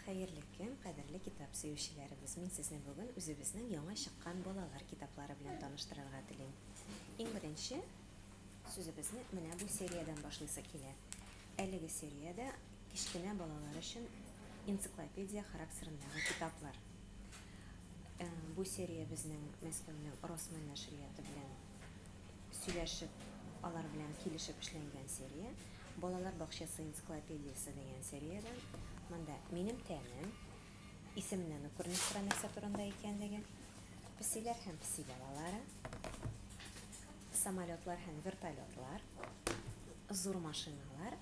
Хәерле көн, кадерле китап сөючеләребез! Мин сезне бүген үзебезнең яңа чыккан балалар китаплары белән таныштырырга телим. Иң беренче сүзебезне менә бу сериядән башлыйсы килә. Әлеге сериядә кечкенә балалар өчен энциклопедия характерындагы китаплар. Э, бу серия безнең Мәскәүнең Росмен нәшрияты белән сөйләшеп, алар белән килешеп эшләнгән серия. Балалар бакчасы энциклопедиясе дигән сериядән. Монда минем тәнем, исемнән үк күренеп тора нәрсә турында икәнлеге. Песиләр һәм песи балалары, самолетлар һәм вертолетлар, зур машиналар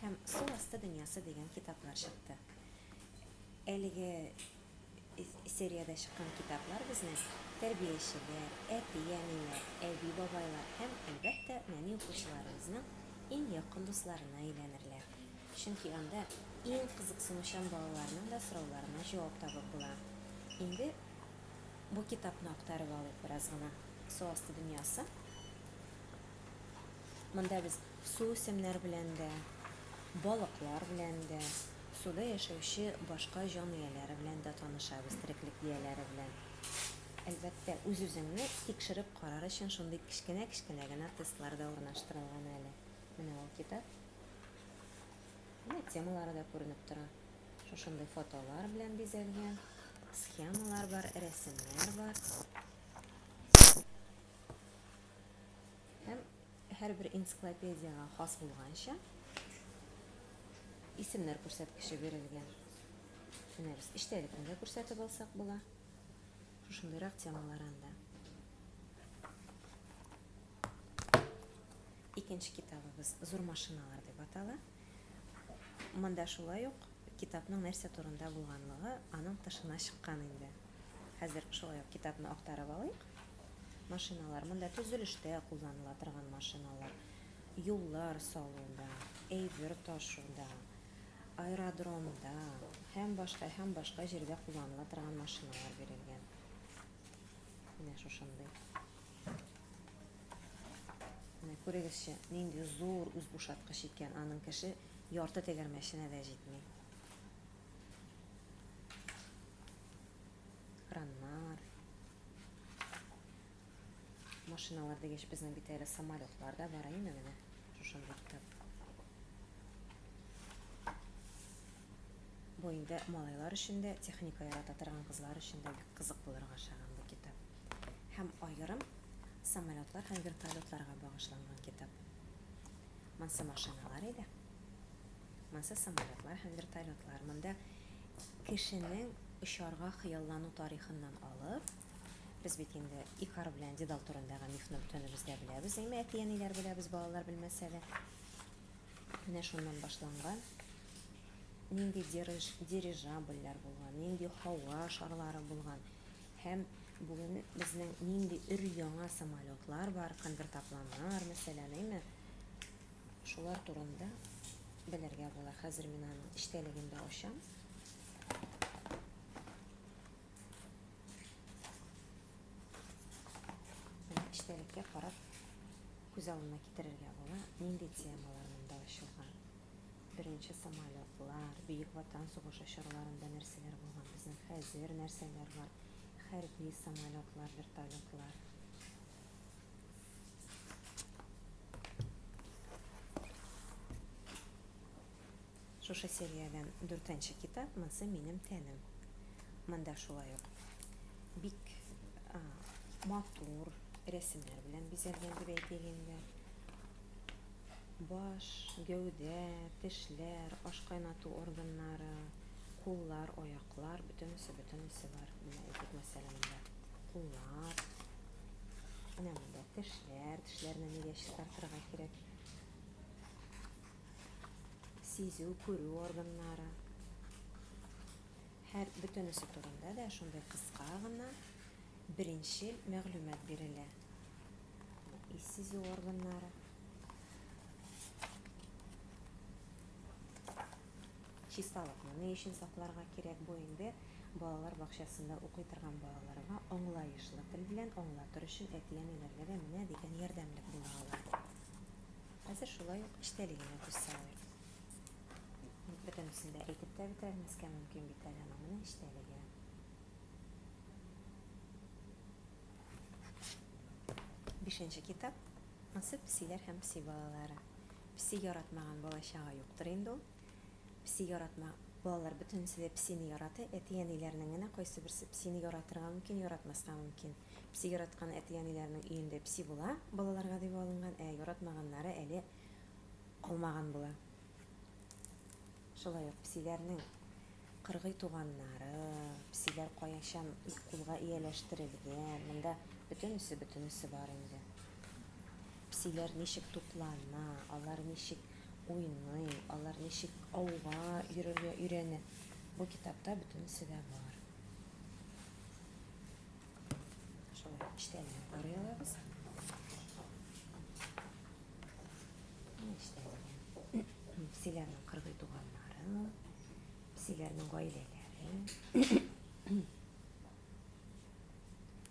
һәм су асты дөньясы дигән китаплар чыкты. Әлеге Сериядә чыккан китаплар безне тәрбиячеләр, әти-әниләр, әби-бабайлар һәм, әлбәттә, нәни укучыларыбызның иң якын дусларына әйләнерләр. Чөнки анда иң кызыксынучан балаларның да сорауларына җавап табып була. Инде бу китапны актарып алыйк бераз гына. Су асты дөньясы. Монда без Суүсемнәр белән дә, балыклар белән дә, суда яшәүче башка җан ияләре белән дә танышабыз, тереклек ияләре белән. Әлбәттә, үз-үзеңне тикшереп карар өчен шундый кечкенә-кечкенә генә тестлар да урнаштырылган әле. Менә ул китап. Менә темалары да күренеп тора. Шушындый фотолар белән бизәлгән, схемалар бар, рәсемнәр бар. Һәм һәрбер энциклопедиягә хас булганча исемнәр күрсәткече бирелгән. Менә без эчтәлекне дә күрсәтеп алсак була. Шушындыйрак темалар анда. Икенче китабыбыз Зур машиналар дип атала. Монда шулай ук китапның нәрсә турында булганлыгы аның тышына чыккан инде. Хәзер шулай ук китапны актарып алыйк. Машиналар, монда төзелештә кулланыла торган машиналар, юллар салуда, әйбер ташуда, аэродромда һәм башка һәм башка җирдә кулланыла торган машиналар бирелгән. Менә шушындый. Менә күрегезче, нинди зур үзбушаткыч икән, аның кеше ярты тәгәрмәченә дә җитми. Краннар. Машиналар дигәч, безнең бит әле самолетлар да бар, әйеме менә? Шушындый китап. Бу инде малайлар өчен дә, техника ярата торган кызлар өчен дә бик кызык булырга охшаган бу китап. Һәм аерым самолетлар һәм вертолетларга багышланган китап. Монсы машиналар иде. Монсы самолетлар һәм вертолетлар. Монда кешенең очарга хыяллану тарихыннан алып, без бит инде Икар белән Дедал турындагы мифны бөтенебез дә беләбез, әйме, әти-әниләр беләбез, балалар белмәсә дә. Менә шуннан башланган. Нинди дирижабльләр булган, нинди һава шарлары булган. Һәм бүген безнең нинди өр-яңа самолетлар бар, конвертопланнар, мәсәлән, әйме? Шулар турында белергә була. Хәзер мин аның эчтәлеген дә ачам. эчтәлеккә карап күз алдына китерергә була нинди темалар монда ачылган беренче самолетлар бөек ватан сугышы чорларында нәрсәләр булган безнең хәзер нәрсәләр бар хәрби самолетлар вертолетлар Шушы сериядән дүртенче китап Монсы минем тәнем. Монда шулай ук бик матур рәсемнәр белән бизәлгән дип әйтик инде. Баш, гәүдә, тешләр, аш кайнату органнары, куллар, аяклар, бөтенесе, бөтенесе бар. Менә әйтик, мәсәлән, монда куллар, менә монда тешләр, тешләрне нигә чистартырга кирәк? сизү, күрү органнары. Һәр бөтенесе турында да шундый кыска гына беренче мәгълүмат бирелә. Ис сизү органнары. Чисталыкны ни өчен сакларга кирәк бу инде балалар бакчасында укый торган балаларга аңлаешлы тел белән аңлатыр өчен әти-әниләргә дә менә дигән ярдәмлек була ала. Хәзер шулай ук эчтәли генә күз салыйк. Бөтенесен дә әйтеп тә бетермәскә мөмкин бит әле аны. Менә эчтәлеге. Бишенче китап Ансыз песиләр һәм песи балалары. Песи яратмаган балачага юктыр инде ул. Песи яратма балалар бөтенесе дә песине ярата. Әти-әниләрнең генә кайсы берсе песине яратырга мөмкин, яратмаска мөмкин. Песи яраткан әти-әниләренең өендә песи була, балаларга дип алынган, ә яратмаганнары әле калмаган була. Шулай ук песиләрнең кыргый туганнары, песиләр каячан кулга ияләштерелгән, монда бөтенесе, бөтенесе бар инде. Песиләр ничек туклана, алар ничек уйный, алар ничек ауга йөрергә өйрәнә, бу китапта бөтенесе дә бар. псиләрнең кыргый туганнары, псиләрнең гаиләләре.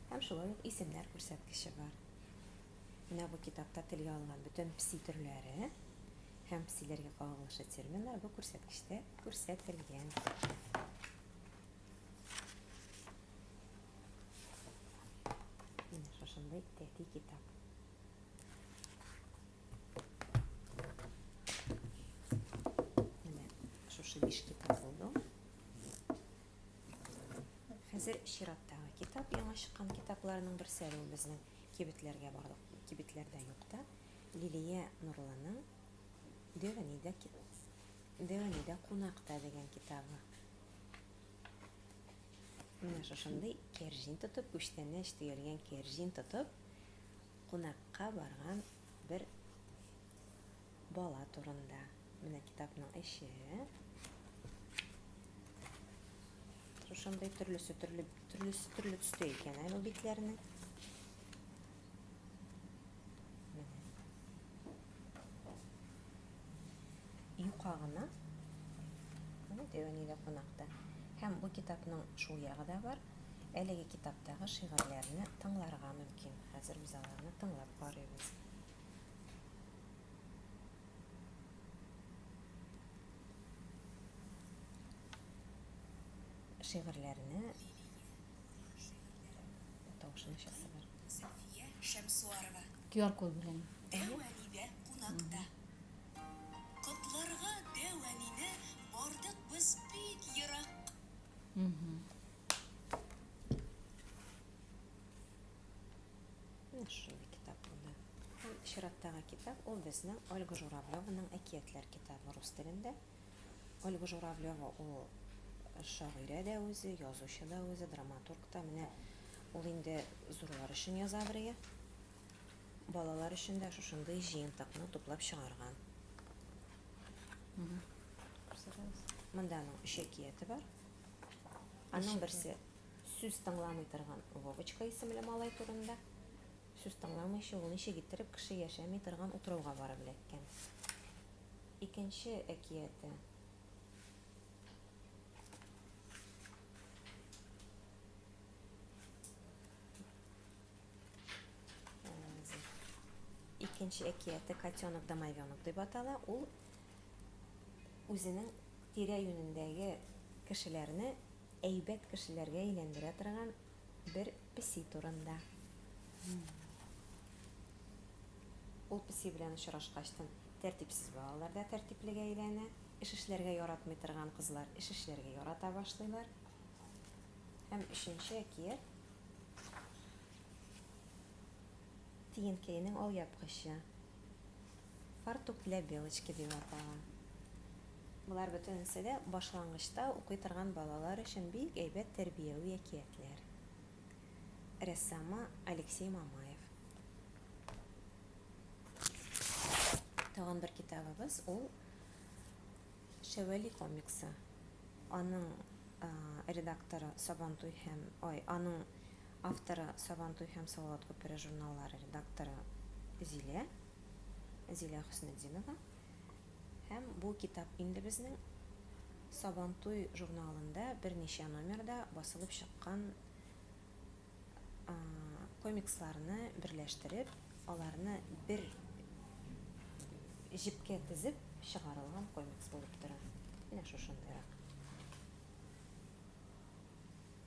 Һәм шулай ук исемнәр күрсәткече бар. Менә бу китапта телгә алынган бөтен пси төрләре һәм псиләргә кагылышлы терминнар бу күрсәткечтә күрсәтелгән. Шушындай тәти китап. Менә шушы биш китап булды. Хәзер чираттагы китап, яңа чыккан китапларның берсе әле ул безнең кибетләргә барлык кибетләрдә юк та. Лилия Нурлының Дәвәнидә Дәвәнидә кунакта дигән китабы. Менә шушындый кәрҗин тотып, күчтәнәч төялгән кәрҗин тотып, кунакка барган бер бала турында. Менә китапның эче. Шушындый төрлесе төрле төрлесе төрле төстә икән әле битләрне. Юка гына. Менә Дәвәни дә кунакта. Һәм бу китапның шул ягы да бар. Әлеге китаптагы шигырьләрне тыңларга мөмкин. Хәзер без аларны тыңлап карыйбыз. Шигырьләрне Тавышын чыгаралар. Сафия Шәмсуарова. QR код белән. Дәү әнидә кунакта. Котларга дәү әнине бардык без бик ерак. Шул китап булды. Һәм чираттагы китап ул безнең Ольга Журавлеваның әкиятләр китабы рус телендә. Ольга Журавлева ул шагыйрә дә үзе, язучы да үзе, драматург та. Менә ул инде зурлар өчен яза бергә. Балалар өчен дә шушындый җыентыкны туплап чыгарган. Монда аның өч әкияте бар. Аның берсе сүз тыңламый торган Вовочка исемле малай турында. Сүз тыңламыйча ул ничек иттереп кеше яшәми торган утрауга барып эләккән? Икенче әкияте. Икенче әкияте Котенок домовенок дип атала. Ул үзенең тирә-юнендәге кешеләрне әйбәт кешеләргә әйләндерә торган бер Песи турында. Ул песи белән очрашкачтын, тәртипсез балалар да тәртиплегә әйләнә, эш эшләргә яратмый торган кызлар эш эшләргә ярата башлыйлар. Һәм өченче әкият Тиенкәйнең алъяпкычы. фартук для белочки дип атала. Болар бөтенесе дә башлангычта укый торган балалар өчен бик әйбәт тәрбияви әкиятләр. Рәссамы Алексей Мамаев. Тагын бер китабыбыз ул Шәвәли комиксы. Аның редакторы Сабантуй һәм ой, аның Авторы, Сабантуй һәм Салават күпере журналлары редакторы Зилә, Зилә Хөснетдинова. Һәм бу китап инде безнең Сабантуй журналында берничә номерда басылып чыккан комиксларны берләштереп, аларны бер җепкә тезеп чыгарылган комикс булып тора. Менә шушындыйрак.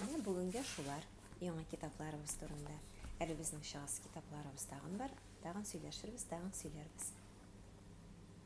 Менә бүгенгә шулар, яңа китапларыбыз турында. Әле безнең чыгасы китапларыбыз тагын бар, тагын сөйләшербез, тагын сөйләрбез.